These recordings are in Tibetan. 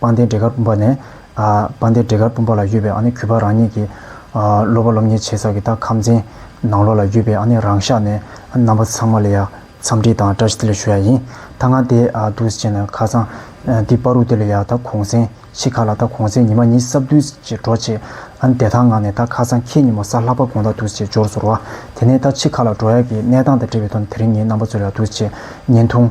པང་གདན་འབྲས་དཀར་སྤུན་པ་ནས། པང་གདན་འབྲས་དཀར་སྤུན་པ་ལ་ཡོད་པའི་གུས་པ་རང་ཉིད་ཀྱི། སློབ་པ་སློབ་གཉེར་བྱེད་ས་ཀྱི་ད་ཁམས་ཆེན། ནང་ལོགས་ལ་ཡོད་པའི་རང་ཤག་ནས་རྣམ་པ་ཚང་མ་ལ་ཡང་འཚམས་འདྲི་དང་བཀྲ་ཤིས་བདེ་ལེགས་ཞུ་ཡ་ཡིན། ད་ང་འདས་འདུག་བྱས་ན་ཁ་སང། འདི་དཔའ་རུ་དེ་ལ་ཡང་ད་གུང་སེང་ཤི་ཁ་ལ་ད་གུང་སེང་ཉི་མ་གཉིས་སྲབ་བདུན་ཅེས་འགྲོ་བྱས། འདས་ཐང་ངང་ནས་ད་ཁ་སང་ཁྱེད་ཉིན་མོ་ས་ལྷག་པ་དགོང་ད་འདུག་བྱས་འབྱོར་ཟོར་བ། དེ་ནས་ད་ཕྱི་ཁ་ལ་འགྲོ་ཡ་གི་གནས་སྟངས་དང་འབྲེལ་བའི་དོན་དེ་རིང་ངའི་རྣམ་པ་ཚོ་ལ་འདུག་བྱས་བརྙན་ཐུང།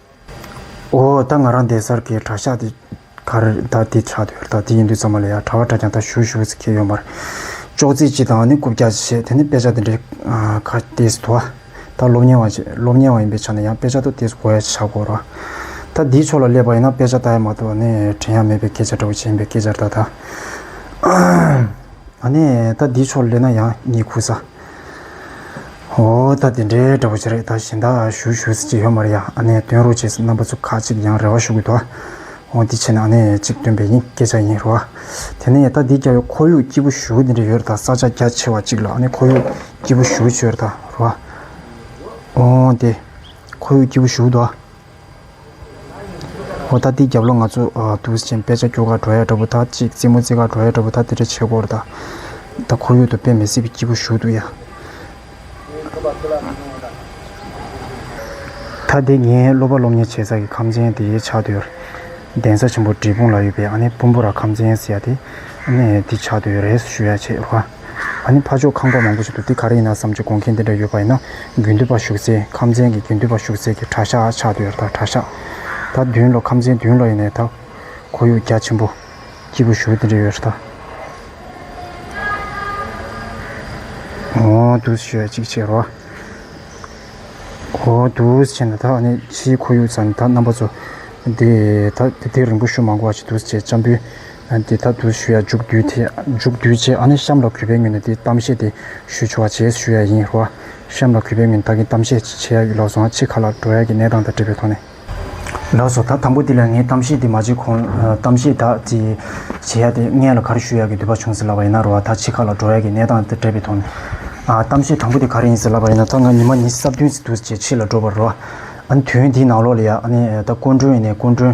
འོ་ད་ང་རང་འདས་སར་གའི་གྲྭ་ཤག་དེ་ག་རེད་ད་དེ་ཆགས་འདོད་རེད་ད་དེ་ཡིན་འདོད་ཙམ་མ་ལས་ཡ་གྲྭ་བ་གྲྭ་རྐྱང་ད་ཞུ་ཞུ་བའི་ཚིག་ཁྱེད་ཡོད་མ་རེད། ཅོག་ཙེ་གཅིག་དང་ནི་རྐུབ་བཀྱག་གཅིག་བྱས་དེ་ནི་དཔེ་ཆ་དེ་འདྲའི་ཁ་ཏེས་དུ་ཨ། ད་སློབ་གཉེར་བ་ཞིག་སློབ་གཉེར་བ་ཡིན་པའི་ཆ་ནས་ཡང་དཔེ་ཆ་ཏོ་ཏེས་གོ་ཡ་ཞིག་བྱ་དགོས་རོ། ད་དེའི་ཕྱོགས་ལ་སླེབས་པ་ཡིན་ན་དཔེ་ཆ་ལྟ་ཡ་མ་ཏོ་ནི་དྲན་ཡ་མེད་པའི་སྐད་ཆ་འདྲ་བོ་བྱེད་ཡིན་པའི་སྐད་ཆར་ད་ད། ཨ་ནས་ད་དེའི་ཕྱོགས་ལ་སླེབས་ན་ཡང་ངས་ཁུ་ས། འོ་ད་དེ་འདྲའི་འདྲ་བོ་ཅི་རེད་ད་གཞན་དག་ཞུ་ཞུ་ཟེར་གྱི་ཡོད་མ་རེད་ཡ་ཨ་ནེ་སྟོན་རོགས་བྱས་ཟེར་རྣམ་པ་ཚོ་ཁག་ཅིག་ཡང་རེ་བ་ཞུ་གི་འདུག་ཨོ་འདི་བྱས་ན་ཨ་ནེ་ཅིག་སྟོན་པའི་ཡིན་སྐད་ཆ་ཡིན་རུང་ཨ། དེ་ནས་ད་འདི་རྒྱ་བོད་ཁོར་ཡུག་སྐྱིད་པོ་ཞུ་གི་འདི་འདྲ་ཡོད་རེད་ད་ས་ཆ་རྒྱ་ཆེ་བ་ཅིག་ལ་ཨ་ནེ་ཁོར་ཡུག་སྐྱིད་པོ་ཞུ་གི་བྱོས་རེད་ད་རུང་ཨ། འོ་དེ་ཁོར་ཡུག་སྐྱིད་པོ་ཞུ་གི་འདུག་ཨ། འོ་ད་འདི་རྒྱབ་ལོ་ང་ཚོ་དུས་ཆེན་དཔེ་ཆ་སྐྱོར་ག་འགྲོ་ཡ་འདྲ་པོ་ད་ཅིག་རྩེད་མོ་རྩེད་ག་འགྲོ་ཡ་འདྲ་པོ་ད་འདི་འདྲ་བྱེད་སྐོར་ད་ད་ཁོར་ཡུག་ཏུ་དཔེ་མི་སྲིད་པའི་སྐྱིད་པོ་ཞུ་འདུག་ཡ། ད་འདི་ངའི་སློབ་པ་སློབ་གཉེར་བྱེད་ས་ཀྱི་ཁམས་ཆེན་དེའི་ཆགས་སྡོད་གདན་ས་ཆེན་པོ་འབྲས་སྤུངས་ལ་ཡོད་པའི་ཨ་ནེ་སྤུན་པོ་ར་ཁམས་ཆེན་ཟེར་ཡ་དེ་ཨ་ནེ་འདི་ཆགས་སྡོད་རེས་ཞུ་ཡ་བྱེད་རོགས། ཨ་ནི་ཕ་ཕྱོགས་ཁང་པ་མང་པོ་ཞིག་ཏུ་འདི་ག་རེ་ཡིན་ན་བསམ་གྱི་དགོངས་མཁན་དེ་འདྲ་ཡོད་པ་ཡིན་ན་དགུན་དུས་པར་ཞུགས་ཚེ་ཁམས་ཚན་གྱི་དགུན་དུས་པར་ཞུགས་ཚེ་གྱི་གྲྭ་ཤག་ཆགས་འདུག་ད་གྲྭ་ཤག་ད་བདུན་ལོ་ཁམས་ཚན་བདུན་ལོ་ཡིན་ནས་ད་ཁོར་ཡུག་རྒྱ་ཆེན་པོ་སྐྱིད་པོ་ཞུ་དེ་འདྲ་ཡོད་རེད་ད། འོང་དུས་ཞེས་གཅིག་བྱས་རོགས་ཨ། འོང་དུས་བྱས་ན་ད་ཨ་ནི་ཕྱིའི་ཁོར་ཡུག་ཚ་ནས་ད་རྣམ་པ་ཚོ་དེ་ད་དེ་དེ་རིང་པོ་ཞུ་མ་དགོས་བ་ཞིག་འདུག་ཅེས་གཅམ་བུའི་དེ་ལྟར་དུ་ཞུ་ཡ་འཇུག་དུས་དེ་འཇུག་དུས་བྱས་ཨ་ནི་གཤམ་ལ་གུས་པའི་ངོས་ནས་དེ་གཏམ་བཤད་དེ་ཞུས་ཆོག་བ་བྱས་ཞུ་ཡ་ཡིན་རུང་བ། གཤམ་ལ་གུས་པའི་ངོས་ནས་ད་གིན་གཏམ་བཤད་བྱེད་ཡ་ཡོད་ལགས་སོང་ཨ་ཕྱི་ཁ་ལ་འགྲོ་ཡ་གི་གནས་སྟངས་དང་འབྲེལ་བའི་ཐོག་ནས། ལགས་སོ་ད་དང་པོ་དེ་ལ་ངས་གཏམ་བཤད་དེ་མ་བྱས་གོང་ལ་གཏམ་བཤད་དག་ཅིག་བྱེད་ཡ་དེ་ངས་ལ་གར་ཞུ་ཡ་གི་འདོད་པ་བྱུང་ཟེར་ལབ་པ་ཡིན་ན་རུང་བ་ད་ཕྱི་ཁ་ལ་འགྲོ་ཡ་གི་གནས་སྟངས་དང་འབྲེལ་བའི་ཐོག་ནས། གཏམ་བཤད་དང་པོ་དེ་ག་རེ་ཡིན་ཟེར་ལབ་པ་ཡིན་ན་ད་ང་ཉི་མ་ཉི་སྲབ་བདུན་ཟིག་འདུག་བྱས་ཕྱི་ལ་འགྲོ་བར་རུང་བ། ཨ་ནི་དུས་ཡུན་འདིའི་ནང་ལོགས་ལ་ཡ་ཨ་ནི་ད་སྐུ་མགྲོན་ཡིན་ནས་སྐུ་མགྲོན་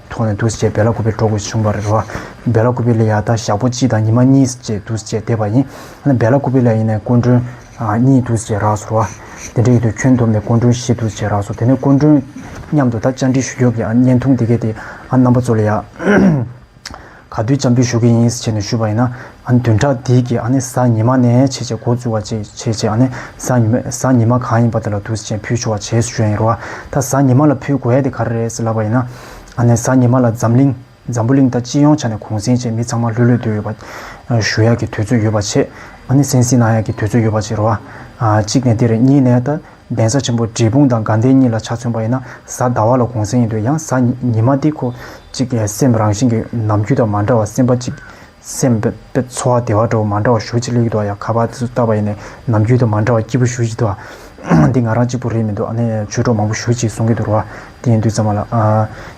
ཐོག་ནས་དུས་བཅད་བེ་ལ་ཀུ་པའི་གྲོགས་ཀྱིས་བྱུང་བར་རོ། བེ་ལ་ཀུ་པི་ལ་ཡང་དག་ཞག་པོ་གཅིག་དང་ཉི་མ་གཉིས་བཅས་དུས་བཅད་འདས་པ་ཡིན། ལན། བེ་ལ་ཀུ་པི་ལ་ཡིན་ནས་སྐུ་མགྲོན། གཉིས་དུས་བཅད་རགས་སོ་རོ། དེ་འདྲ་ཡིན་དུས་ཁྱོད་འདོམས་ནས་སྐུ་མགྲོན་བཞི་དུས་བཅད་རགས་སོ་དེ་ནས་སྐུ་མགྲོན། མཉམ་དུ་ད་བཅར་འདྲི་ཞུ་རྒྱོབ་ཀྱི་ཨ། བརྙན་ཐུང་འདི་གའི་དེ་ཨ་རྣམ་པ་ཚོ་ལ་ཡང། ག་དུས་བྱམས་པོས་ཞུ་གི་ཡིན་ཟེར་བྱས་ནས་ཞུས་པ་ཡིན་ན། ཨ་ནི་བདུན་ཕྲག་འདིའི་གི་ཨ་ནི་གཟའ་ཉི་མ་ནས་བྱས་བྱས་འགོ་བཙུགས་བ་བྱས་བྱས་བྱས་ཨ་ནི་གཟའ་ཉི་མ་གཟའ་ཉི་མ་གང་ཡིན་པ་དེ་ལ་དུས་ཟེར་བྱས་ཕུལ་ཆོག་བ་བྱས་ཞུས་ཡིན་རུང་ཨ་ད་གཟའ་ཉི་མ་ལ་ཕུལ་དགོས་ཡ་དེ་ག་རེ་རེད་ཟེར་ལབ་པ་ཡིན་ན། ཨ་ནི་གཟའ་ཉི་མ་ལ་འཛམ་གླིང་འཛམ་བུ་གླིང་ད་སྤྱི་ཡོངས་ཆ་ནས་གུང་གསེང་བྱས་མི་ཚང་མ་ལྷོད་ལྷོད་སྡོད་ཡོད་པ། ཞུ་ཡག་གི་དུས་ཚོད་ཡོད་པ་བྱས་ཨ་ནི་སེང་སེང་གནང་ཡག་གི་དུས་ཚོད་ཡོད་པ་བྱས་རུང་ཨ། གཅིག་ནས་དེ་རེད་གཉིས་ནས་ད། གདན་ས་ཆེན་པོ་འབྲས་སྤུངས་དང་དགའ་ལྡན་གཉིས་ལ་ཆ་མཚོན་པ་ཡིན་ན་གཟའ་ཟླ་བ་ལ་གུང་གསེང་ཡིན་འདོད་ཡང་གཟའ་ཉི་མ་འདི་ཁོ་གཅིག་སེམས་རང་བཞིན་གྱི་ནམ་རྒྱུན་དང་མ་འདྲ་བ་སེམས་པ་གཅིག་སེམས་པའི་འཚོ་བ་བདེ་བ་འགྲོ་བ་མ་འདྲ་བ་ཞུ་ཅི་ལེགས་འདུག་ཡ་ཁ་བ་སུ་བཏབ་པ་ཡིན་ནས་ནམ་རྒྱུན་དང་མ་འདྲ་བ་སྐྱིད་པོ་ཞུ་ཅི་འདུག་འདི་ང་རང་གཅིག་པུ་རེད་མི་འདུག་ཨ་ནེ་ཆོས་གྲོགས་མང་པོ་ཞུ་ཅི་གསུང་གི་འདུག་རོ་བ་འདི་ཡིན་དུས་ཙམ་མ་ལགས།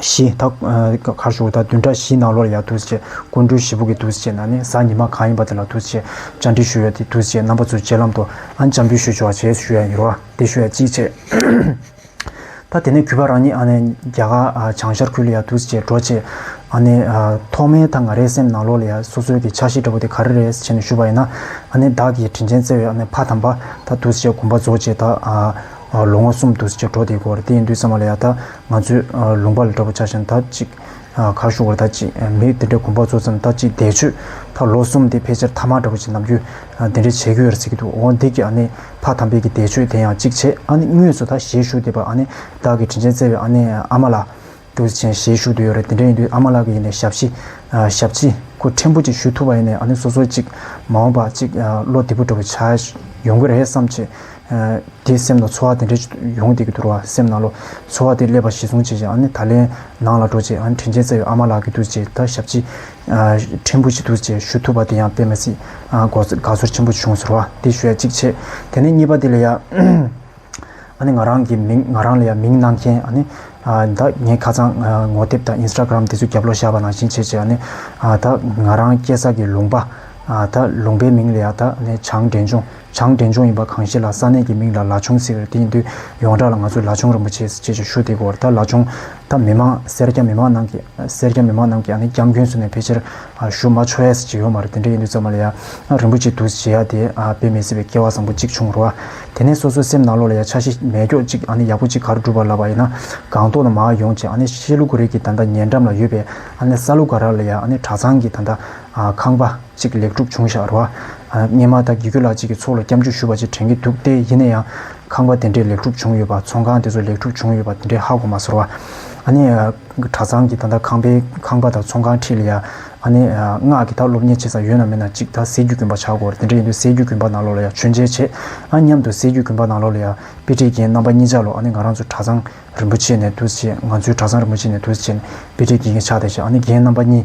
བཞི། ད་གར་བཞུགས་ད་བདུན་གྲྭ་བཞིའི་ནང་ལོར་ཡ་དུས་བཅད་སྐུ་མགྲོན་བཞི་པོ་གི་དུས་བཅད་ནང་ནས་གཟའ་ཉི་མ་གང་ཡིན་པ་དེ་ལ་དུས་བཅད་བཅར་འདྲི་ཞུ་ཡ་དེ་དུས་བཅད་རྣམ་པ་ཚོའི་རྗེས་ལམ་དུ་ཨ་འཇམ་པོའི་ཞུ་ཆོག་བྱས་ཞུ་ཡ་ཡིན་རོགས་དེ་ཞུ་ཡ་ཅིག་བྱས། ད་དེ་ནས་གུས་པ་རང་ཉིད་ཨ་ནེ་རྒྱ་གར་བྱང་ཤར་ཁུལ་ལ་ཡ་དུས་བཅད་འགྲོ་བྱེད། ཨ་ནེ། ཐོག་མའི་ད་ང་རའི་སེམས་ནང་ལོར་ལ་ཡ་སོ་སོའི་གི་ཕྱག་བཞེས་འདྲ་པོ་དེ་ག་རེ་རེད་བྱས་ནས་ཞུ་བ་ཡིན་ན། ཨ་ནེ་བདག་གིས་དྲིན་ཆེན་བརྩེ་བའི་ཨ་ནེ་ཕ་དམ་པ་ད་དུས་བཅད་དགོངས་པ་རྫོགས་རྗེས་ད། ལོ་ངོ་གསུམ་དུ་བྱ་སྒྲོ་དེ་གོར་དེ་ཡིན་དུས་ཙམ་མ་ལ་ཡ་ད་ང་ཚོས་ལུང་པ་ལ་འདྲ་པོ་བྱ་ཞིང་ད་ཅིག་གར་བཞུགས་བར་ད་ཅིག་མི་དེ་འདྲའི་གོམ་པ་རྫོགས་ཙམ་ད་ཅིག་འདས་མཆོད་ཕ་ལོ་གསུམ་དེ་ཕལ་ཆེར་ཐ་མག་འདྲ་པོ་ཅིག་ནམ་རྒྱུན་དེ་འདྲས་བྱས་ཁུལ་ཡོད་རེད་ཟེར་གྱི་འདུག་འོ་འདི་གི་ཨ་ནི་ཕ་དམ་དཔལ་གྱི་འདས་མཆོད་དེ་ཡང་ཅིག་བྱས་ཨ་ནི་དངོས་སུ་ད་གཞས་ཞུ་བདེ་བར་ཨ་ནི་བདག་གི་དྲིན་ཆེན་བརྩེ་བའི་ཨ་ནེ་ཨ་མ་ལ། ཀྲུའུ་ཞི་ཆན་ཞེས་བཞུགས་འདོད་ཡོད་རེད་དེ་འདྲ་ཡིན་དུས་ཨ་མ་ལགས་ཀྱི་ཡིན་ནས་ཞབས་ཕྱི། ཞབས་ཕྱི། ཁུ་ཕྲན་བུ་གཅིག་ཞུ་ཐུབ་པ་ཡིན་ནས་ཨ་ནེ་སོ་སོ་གཅིག་མ་འོངས་པ་གཅིག་བློ་བདེ་པོ་འགྲོ་བའི་ཆ་ཡོང་གི་རེད་བསམ་ཆེ། དེའི་སེམས་ལ་ཚོར་བ་དེ་འདྲ་ཡོང་བསྡད་ཀྱི་འདུག་བ་སེམས་ནང་ལོ་ཚོར་བ་དེ་སླེབས་པ་གཞི་བཟུང་བྱས་རྗེས་ཨ་ནེ་ད་ལན་ནང་ལ་འགྲོ་རྗེས་ཨ་ནེ་དྲིན་ཆེན་བརྩེ་བའི་ཨ་མ་ལགས་ཀྱི་འདུག་ཅེས་ད་ཞབས་ཕྱི། ཕྲན་བུ་གཅིག་འདུག་ཅེས་ཞུ་ཐུབ་པ་དེ་ཡང་དཔེ་མ་སྲིད། དགའ་ཚོར་ཆེན་པོ་བྱུང་ཟེར་བ་དེ་ཞུ་ཡ་གཅིག་བྱས་དེ་ནས་གཉིས་པ་དེ་ལ་ཡ། ཨ་ནི་ང་རང་གི་མིང་ང་རང་ལ་ཡང་མིང་གནང་མཁན་ཨ་ནི་ད་ངས་ཁ་ཚང་ངོ་དེབ་དང Instagram དེ་ཚོ་རྒྱབ་ལོག་བཞག་པ་ནང་བཞིན་བྱས་བྱས་ཨ་ནི་ད་ང་རང་སྐྱེས་ས་གི་ལུང་པ་ད་ལུང་པའི་མིང་ལ་ཡང་ད་ནི་བྱང་འདྲེན་ཆུང་བྱང་འདྲེན་ཆུང་ཡིན་པ་གང་ཤེས་ལ་ས་གནས་ཀྱི་མིང་ལ་ལ་ཆུང་ཟེར་དེ་ཡིན་དུས་ཡོངས་གྲགས་ལ་ང་ཚོ་ལ་ཆུང་རིན་པོ་ཆེ་ཅེས་ཀྱི་ཞུ་དེ་གོ་ད་ལ་ཆུང་ད་མི་མང་སེར་སྐྱ་མི་མང་རྣམས་ཀྱིས་སེར་སྐྱ་མི་མང་རྣམས་ཀྱིས་ཨ་ནི་སྐྱབས་མགོན་ཟུར་ནས་ཕལ་ཆེར་ཞུ་མ་ཆོས་ཞེས་ཡོད་མ་རེད་དེ་འདྲ་ཡིན་དུས་ཚང་མ་ལ་ཡ་ང་རིན་པོ་ཆེ་འདུག་ཞེས་ཡ་དེ་དཔེ་མི་སྲིད་པའི་སྐྱེ་བ་བཟང་པོ་གཅིག་བྱུང་རོགས་ཨ། དེ་ནས་སོ་སོའི་སེམས་ནང་ལོགས་ལ་ཡ་ཆ་ཤི་མས་སྐྱོག་གཅིག་ཨ་ནི་ཡག་པོ་གཅིག་གར་སྒྲུབ་པར་ལབ་པ་ཡིན་ན་སྒང་ཏོག་ལ་མ་ཡོང་ཅིག་ཨ་ནི་ཤེས་ལུགས་རིགས་ཀྱི་ད་ལྟ་ཉེ་འགྲམ་ལ་ཡོད་པའི་ཨ་ནི་ས་ལུ་ག་ར་ལ་ཡ་ཨ་ནི་གྲ་ཚང་གི་ད་ལྟ་ཁང་པ་གཅིག་ལེགས་གྲུབ་བྱུང་བཞག་རོགས་ཨ། སྙེ་མ་ད་གི་ཁྱོད་ལགས་གཅིག་གི་ཚོགས་ལ་སྐྱབས་འཇུག་ཞུ་བ་ཅིག་དྲན་གྱི་འདུག་སྟེ་ཡིན་ན་ཡང་ཁང་པ་དེ་འདྲས་ལེགས་གྲུབ་བྱུང་ཡོད་པ་ཚོང་ཁང་དེ་ཚོ་ལེགས་གྲུབ་བྱུང་ཡོད་པ་དེ་འདྲས་ཧ་གོ་མ་ཟེར་བ་ཨ་ནི། གྲྭ་ཚང་གི་ད་ལྟ་ཁང་པའི་ཁང་པ་དང་ཚོང་ཁང་ཁྲི་ལ་ཡ། ཨ་ནེ། སྔགས་ཀྱི་དག་སློབ་གཉེར་བྱེད་ས་ཡོད་ན་མེད་ན་ཅིག་ད་ཟས་རྒྱུ་གུན་པ་བྱ་དགོས། དེ་འདྲ་ཡིན་དུས་ཟས་རྒྱུ་གུན་པ་ནང་ལོགས་ལ་ཡ་མཆོད་མཇལ་བྱེད། ཨ་མཉམ་དུ་ཟས་རྒྱུ་གུན་པ་ནང་ལོགས་ལ་ཡ། དཔེ་ཁྲིད་མཁན་རྣམ་པ་གཉིས་ཆ་ལོ་ཨ་ནེ་ང་རང་ཚོ་གྲྭ་ཚང་རིན་པོ་ཆེ་ནས་དུས་བྱེད་ང་ཚོའི་གྲྭ་ཚང་རིན་པོ་ཆེ་ནས་དུས་བྱེད་ནས་དཔེ་ཁྲིད་བགྱིད་མཁན་ཆགས་བསྡད་བྱེད་ཨ་ནེ་རྒན་རྣམ་པ་གཉིས་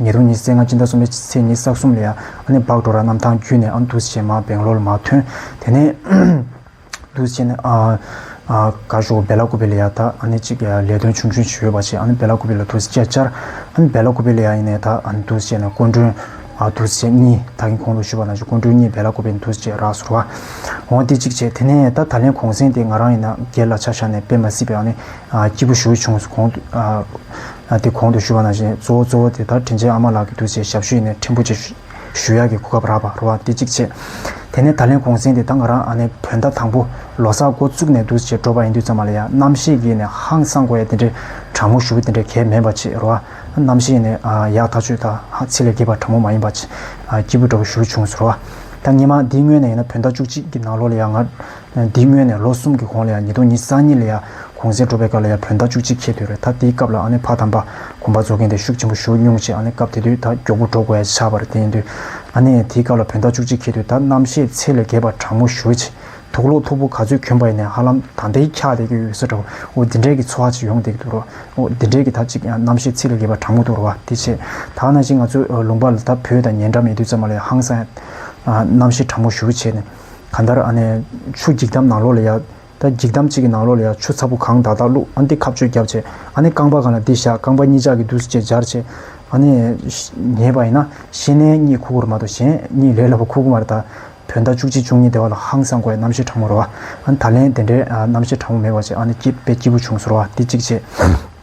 ཉེ་རུ་ཉི་ཟེར་ལྔ་སྤྱི་ཟླ་གསུམ་པའི་ཚེས་ཉིན་ས་གསུམ་ལས་ཨ་ནེ་སྦག་འགྲོ་ར་གནམ་ཐང་བརྒྱུད་ནས་ཨ་མདུད་ཆེན་མ་སྦེང་ལོར་མ་ཐོན། དེ་ནས་མདུད་ཆེན་ཨག་ཞོ་བེ་ལ་ཀུ་བེ་ལེ་ཡ་དག་ཨ་ནེ་གཅིག་ལས་དོན་ཆུང་ཆུང་བྱེད་འོས་པ་བྱས་ཨ་ནེ་བེ་ལ་ཀུ་བེ་ལ་མདུད་ཆེན་བཅས་བཅར། ཨ་ནེ་བེ་ལ་ཀུ་བེ་ལེ་ཡ་ཡིན་ནས་དག་མདུད་ཆེན་སྐུ་མགྲོན། མདུད་ཆེན་གཉིས་དག་གིན་གོང་དུ་ཞུས་པ་ན་ཆུ་སྐུ་མགྲོན་གཉིས་བེ་ལ་ཀུ་བེ་མདུད་ཆེན་རག་ཟུར་བ། འོང་སྟེ་གཅིག་བྱས་དེ་ནས་ད་ད་ལན་གོང་གསེང་དེ་ང་རང་ཡིན་ན་སྒེར་ལ་ཆ་བཞག་ནས་དཔེ་མ་སྲིད་པའི་ཨ་ནེ་སྐྱིད་པོ་ཞུ་ཆུང་གོང་དུ། དེ་གོང་དུ་ཞུས་པ་ན་བཞིན་གཙོ་བོ་གཙོ་བོ་དེ་ལྟར་དྲིན་ཅན་ཨ་མ་ལགས་ཀྱི་འདུག་ཅེས་ཞབས་ཞུ་ཡི་ནས་ཕྲན་བུ་ཅིག་ཞུ་ཡག་གི་གོ་སྐབས་རག་པ་རོ་འདི་གཅིག་བྱས། དེ་ནས་ད་ལན་གུང་གསེང་དེ་ད་ང་རང་ཨ་ནེ་བོད་ཟླ་དང་པོ་ལོ་སར་འགོ་བཙུགས་ནས་འདུག་ཅེས་འབྲོ་བ་ཡིན་དུས་ཙམ་མ་ལ་ཡ་རྣམ་ཤེས་ཀྱི་ཡི་ནས་ཧང་སང་གོ་ཡ་དེ་འདྲའི་དྲང་མོ་ཞུ་དེ་འདྲའི་གལ་མེད་པ་ཅིག་རོ་ཨ་རྣམ་ཤེས་ཡི་ནས་ཡག་ཐག་ཆོད་ད་ཧ་ཚིག་ལས་རྒྱས་པ་དྲང་མོ་མ་ཡིན་པ་ཅིག་སྐྱིད་པོ་འདྲ་བོ་ཞུ་བྱུང་རོ་ཨ་ད་ངེད་མ་འདིའི་སྔོན་ནས་ཡིན་ན་བོད་ཟླ་བཅུ་གཅིག་གི་ནང་ལོ་ལ་ཡ་ང་འདིའི་སྔོན་ནས་ལོ་གསུམ་གྱི་གོང་ལ་ཡང་ཉིས་སྟོང་ཉིས་གསང་གཉིས་ལ་ཡང་གུང་གསེང་འགྲོ་བའི་སྐབས་ལ་ཡང་བོད་ཟླ་བཅུ་གཅིག་ཁེལ་དུས་རེད་ད་དེའི་སྐབས་ལ་ཨ་ནི་ཕ་དམ་པ་དགོན་པ་འཛུགས་མཁན་དེ་ཤུགས་ཆེན་པོ་ཞུགས་མྱོང་ཆེ་ཨ་ནི་སྐབས་དེ་དུས་ད་མགྱོགས་པོ་འགྲོ་དགོས་ཡ་ཆགས་པ་རེད་དེ་ཡིན་དུས་ཨ་ནི་དེའི་སྐབས་ལ་བོད་ཟླ་བཅུ་གཅིག་ཁེལ་དུས་ད་རྣམ་བཤད་ཚད་ལས་བརྒལ་བ་དྲང་མོ་ཞུ་ཆེ་འདུག་ལོ་ཐོ་བུ་ག་ཚོད་གྱོན་པ་ཡིན་ནའི་ཧ་ལམ་ད་འདི་འཁྱག་བསྡད་ཀྱི་ཡོད་ས་འདྲ་བོ་འདི་འདྲས་ཀྱི་ཚོ་ཧ་ཅིག་ཡོང་བསྡད་ཀྱི་འདུག་རོ་འདི་འདྲས་ཀྱི་ད་ཅིག་ཡང་རྣམ་བཤད་ཚད་ལས་བརྒལ་བ་དྲང་མོ་འདུག་རོ་བ་དེ་བྱས་ད་ན་ཅིག་ང་ཚོ་ལུང་པ་ལ་ད་བོད་དང་ཉེ་འདྲ་མེད་དུས་ཙམ་མ་ལ་ཡང་ཧང་སང་ཡ་རྣམ་བཤད་དྲང་མོ་ཞུ་ཆེ་ནས། གང་ལྟར་ཨ་ནེ། ཆུ་འགྱིག་དམ་ནང་ལོགས་ལ་ཡ། ད་འགྱིག་དམ་གཅིག་གི་ནང་ལོགས་ལ་ཡ་ཆུ་ཚ་པོ་གང་བདག་བདག་བླུག་ཨ་འདི་ཁ་བཅོས་རྒྱབ་བྱེད་ཨ་ནེ་རྐང་པ་གང་ལ་འདི་བཞག་རྐང་པ་གཉིས་ཅག་གི་འདུག་ཅེས་སྦྱར་བྱེད་ཨ་ནེ། ཉེས་པ་ཡིན་ན་ཤེས་ནས་གཉིད་ཁུག་ཁུག་རུ་མ་གཏོགས་གཞན་གཉིད་ལས་སླ་བོ་ཁུག་ཁུག་མ་རེད་ད། བོད་ཟླ་བཅུ་གཅིག་བཅུ་གཉིས་སྡེ་བ་ལ་ཧང་སང་དགོས་རྣམ་ཤེས་དྲང་མོ་རུ་བ། ཨ་ནེ་ད་ལན་དེ་འདྲའི་རྣམ་ཤེས་དྲང་མོ་མེད་པ་ཅིག་ཨ་ནེ་སྐྱིད་པའི་སྐྱིད་པོ་བྱུང་ཟེར་བ་འདི་གཅིག་བྱེད།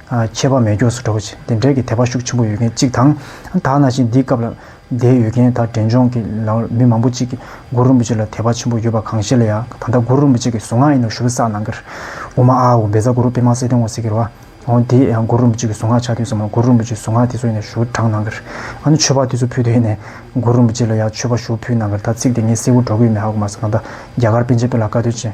ཆད་པ་མེད་མགྱོགས་སུ་འགྲོ་བྱེད་དེ་འབྲེལ་གྱི་དད་པ་ཤུགས་ཆེན་པོ་ཡོད་མཁན་གཅིག་དང། དག་ན་ཞིང་འདིའི་སྐབས་ལ་དད་ཡོད་མཁན་དག་འབྲས་ལྗོངས་ཀྱི་ལའོ་མི་མང་པོ་གཅིག་གིས་གུ་རུ་རིན་པོ་ཆེ་ལ་དད་པ་ཆེན་པོ་ཡོད་པ་གང་ཤེས་ལ་ཡ་ད་ལྟ་གུ་རུ་རིན་པོ་ཆེ་གི་གཟུངས་སྔགས་ཨེ་ནུ་ཞུ་བི་སག་ནང་གིར་འོ་མ་ཨ་འོ་བེ་ཛ་གུ་རུ་པི་མ་སེ་ཏེ་འོ་སི་ཀིར་བ་འོ་དེ་ཡང་གུ་རུ་རིན་པོ་ཆེ་གི་གཟུངས་སྔགས་ཆ་མཐུན་ས་མ་གུ་རུ་རིན་པོ་ཆེ་གཟུངས་སྔགས་དེ་ཚོ་ཨེ་ནུ་ཞུ་བི་བྲང་ནང་གིར་ཨ་ནུ་མཆོད་པ་དེ་ཚོ་ཕུལ་དུ་ཨེ་ནས་གུ་རུ་རིན་པོ་ཆེ་ལ་ཡ་མཆོད་པ་ཞུ་བི་ཕུལ་ནང་གིར་ད་ཚིག་དེ་ངས་གསལ་བོ་སྒྲོག་གི་ཡོད་མེད་ཧ་གོ་མ་སོང་ད་ལྟ་རྒྱ་གར་པཎ་ཆེན་དཔེ་ལ་བཀའ་སྡོད་ཅན་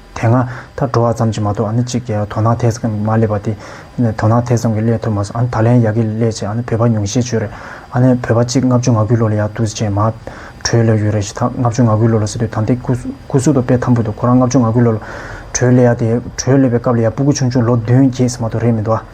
དེ་སྔ་ད་འགྲོ་བ་ཙམ་གྱིས་མ་གཏོགས་ཨ་ནི་གཅིག་དོ་སྣང་ཐེ་ཚོམ་གྱིས་མ་བསླེབས་པ་དེ། དོ་སྣང་ཐེ་ཚོམ་གྱིས་བསླེས་ཐུབ་མ་སོང་ཨ་ནི་ད་ལན་ཡག་གིས་བསླེས་ཆེད་ཨ་ནི་བོད་པ་ཉུང་ཤས་བྱོས་རེད། ཨ་ནི་བོད་པ་གཅིག་ལྔ་བཅུ་ང་དགུའི་ལོ་ལ་ཡག་འདུག་ཅེས་མ། བྲོས་བསླེས་ཡོད་རེད་ཞེས་ད་ལྔ་བཅུ་ང་དགུའི་ལོ་ལ་ཟེར་དུས་ད་འདི་སྐུ་གཟུགས་དོག་པས་འཐམ་བུ་འདུག་ཁོ་རང་ལྔ་བཅུ་ང་དགུའི་ལོ་ལ་བྲོས་བསླེས་ཡ་དེ་བྲོས་བསླེས་པའི་སྐབས་ལ་ཡ་སྤུ་གུ་ཆུང་ཆུང་ལོ་བདུན་བརྒྱད་ཟེར་མ་གཏོགས་རེད་མི་འདུག་ཨ།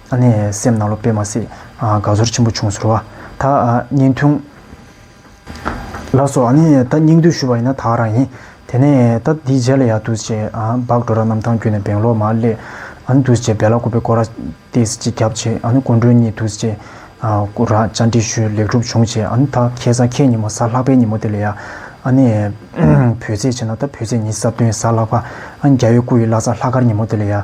ཨ་ནེ་སེམས་ནག་ལོ་དཔེ་མ་སྲིད། དགའ་ཚོར་ཆེན་པོ་བྱུང་ཟེར་བ། ད་སྙིང་ཐུང། ལགས་སོ་ཨ་ནེ་ད་སྙིང་འདོད་ཞུ་བ་ཡིན་ན་དག་རང་ཡིན། དེ་ནས་ད་འདི་རྗེས་ལ་ཡག་འདུག་ཅེས་འབག་འགྲོ་ར་གནམ་ཐང་བརྒྱུད་ནས་སྦེང་ལོར་མ་སླེབས། ཨ་ནེ་འདུག་ཅེས་སྦེ་ལ་ཀོ་པེ་ཀོ་ར་ཏིས་གཅིག་རྒྱབ་བྱས་ཨ་ནེ་སྐུ་མགྲོན་གཉིས་འདུག་ཅེས་ཀོ་ར་བཅར་འདྲི་ཞུས་ལེགས་གྲུབ་བྱུང་ཅེས་ཨ་ནེ་ད་ཁྱེད་ས་ཁྱེད་ཉིན་མོ་ས་ལྷག་པའི་ཉིན་མོ་དེ་ལས་ཡག་ཨ་ནེ། བོད་ཚེས་བྱས་ན་ད་བོད་ཚེས་ཉིན་གསར་སྟོན་ས་ལྷག་པ་ཨ་ནེ་རྒྱ་ཡོད་སྐུ་ཡི་བླ་ས་ལྷག་དཀར་ཉིན་མོ་དེ་ལས་ཡག།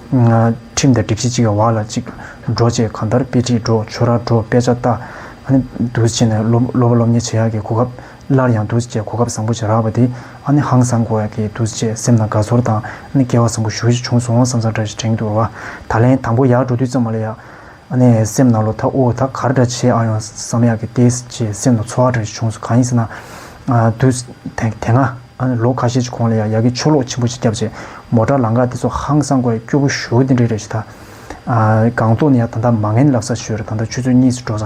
ཁྲིམས་དང་སྒྲིག་གཞི་གཅིག་བར་ལ་གཅིག་འགྲོ་བཅས་གང་ལྟར་དཔེ་ཁྲིད་འགྲོ་ཆོས་ར་འགྲོ་དཔེ་ཆ་ལྟ། བསྡུ་བྱས་ནས་སློབ་མ་སློབ་གཉེར་བྱེད་ཡག་གི་གོ་སྐབས་སླར་ཡང་བསྡུ་བྱས་གོ་སྐབས་བཟང་པོ་ཞིག་རག་པ་དེ་ཧང་སང་གོ་ཡག་གི་བསྡུ་བྱས་སེམས་ནང་དགའ་ཚོར་དང་སྐལ་བ་བཟང་པོ་ཞུ་བཞིན་བྱུང་སོང་བསམ་བསམ་འདྲ་ཞིག་དྲན་གྱི་འདུག་བ་ད་ལན་དང་པོ་ཡག་འགྲོ་དུས་ཙམ་མ་ལ་ཡག། ཨ་ནེ་ཨའི་སེམས་ནང་ལོ་ཐ་ཨོའོ་ད་ག་རེ་འདྲ་བྱེད་ཨང་ཡོང་བསམ་ཡག་གི་ཏེ་ཅེས་སེམས་ནང་ཚོར་བ་འདྲ་ཞིག་བྱུང་སོང་གང་ཡིན་ཟེར་ན། དུས་དེ་སྔ་ལོ་ཁ་ཤས་ཀྱི་གོང་ལ་ཡང་ཡ་གི་ཆུ་ལོག་ཆེན་པོ་ཞིག་བརྒྱབ་རྗེས་མོ་བྲག་ལང་ཀ་དེ་ཚོ་ཧང་སང་སྒོ་ཡ་སྐྱོ་པོ་ཞོ་དེ་འདྲའི་རེད་ཞུ་ད། སྒང་ཏོག་ནས་ཡང་ད་ལྟ་མ་ངན་ལབ་ས་ཞོལ་རེད་ད་ལྟ་ཆུ་ཚོད་གཉིས་སུ་འགྲོ་ས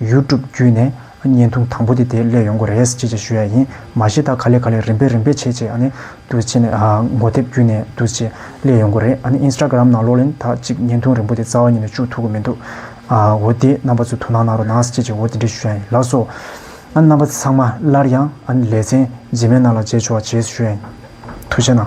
YouTube བརྒྱུད་ནས་བརྙན་ཐུང་དང་པོ་དེ་དེ་སླད་ཡོང་གོ་རེད་ཅེས་བརྗོད་ཞུ་ཡ་ཡིན། མ་གཞི་ད་ག་ལེ་ག་ལེ་རིམ་པས་རིམ་པས་བྱེད་ཅེས་བསྡུ་བྱས་ནས་མགོ་དེབ་བརྒྱུད་ནས་བསྡུ་ཅེས་སླད་ཡོང་གོ་རེད། Instagram ནང་ལོག་ལེན་དག་ཅིག་བརྙན་ཐུང་རིང་པོ་དེ་རྩ་བ་ཉིད་ནས་བཅུག་ཐུབ་གི་མི་འདུག་འོ་དེ་རྣམ་པ་ཚོས་དོ་སྣང་གནང་རོགས་གནང་ཅེས་ཅེས་འོ་དེ་འདྲས་ཞུ་ཡ་ཡིན་ལགས་སོ། རྣམ་པ་ཚང་མ་སླར་ཡང་ལེ་ཚན་རྗེས་མའི་ནང་ལ་མཇལ་ཆོག་ཅེས་ཞུ་ཡ་ཡིན། ཐུགས་ཆེ་གནང།